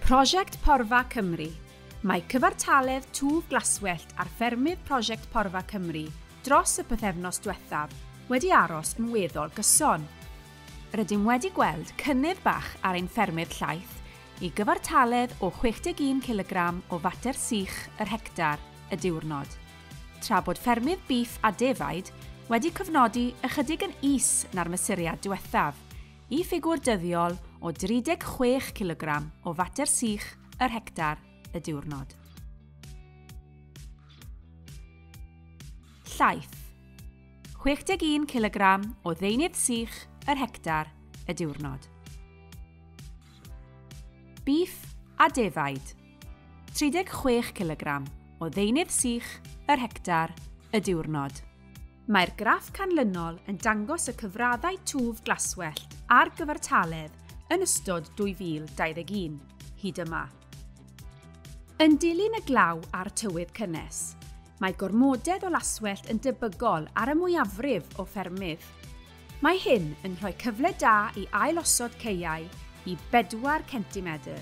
Prosiect Porfa Cymru. Mae cyfartaledd twf glaswellt ar ffermydd Prosiect Porfa Cymru dros y pythefnos diwethaf wedi aros yn weddol gyson. Rydym wedi gweld cynnydd bach ar ein ffermydd llaeth i gyfartaledd o 61 cilogram o fater sych yr hectar y diwrnod. Tra bod ffermydd bîff a defaid wedi cofnodi ychydig yn is na'r mesuriad diwethaf, y ffigwr dyddiol o 36 cilogram o fater sych yr hectar y diwrnod. Llaeth. 61 cilogram o ddeunydd sych yr hectar y diwrnod. Bîff a defaid. 36 cilogram o ddeunydd sych yr hectar y diwrnod. Mae'r graff canlynol yn dangos y cyfraddau twf glaswellt ar gyfartaledd yn ystod 2021, hyd yma. Yn dilyn y glaw a'r tywydd cynnes, Mae gormodedd o laswellt yn debygol ar y mwyafrif o ffermydd. Mae hyn yn rhoi cyfle da i ailosod caeau i 4 centimedr,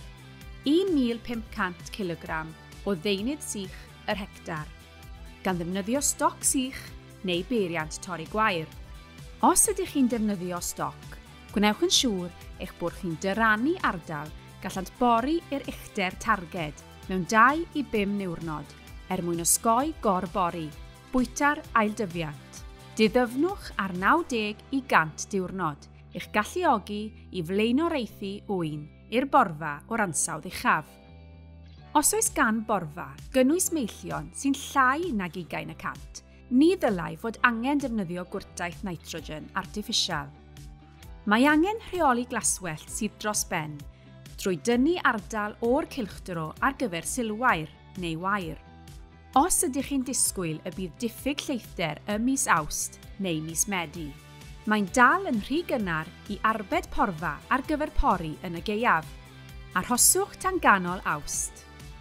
1,500 cilogram, o ddeunydd sych yr hectar, gan ddefnyddio stoc sych neu beiriant torri gwair. Os ydych chi'n defnyddio stoc, gwnewch yn siŵr eich bod chi'n dyrannu ardal gallant bori i'r uchder targed. mewn 2 i 5 niwrnod er mwyn osgoi gor-bori, bwyta'r ailddyfiant. Diddyfnwch ar 90 i 100 diwrnod i'ch galluogi i flaenoriaethu ŵyn i'r borfa o'r ansawdd uchaf. Os oes gan borfa gynnwys meillion sy'n llai nag ugain y cant, ni ddylai fod angen defnyddio gwrtaith nitrogen artiffisial. Mae angen rheoli glaswellt sydd dros ben drwy dynnu ardal o'r cylchdro ar gyfer silwair neu wair. Os ydych chi'n disgwyl y bydd diffyg lleithder ym mis Awst neu mis Medi, mae'n dal yn rhy gynnar i arbed porfa ar gyfer pori yn y gaeaf. Arhoswch tan ganol Awst.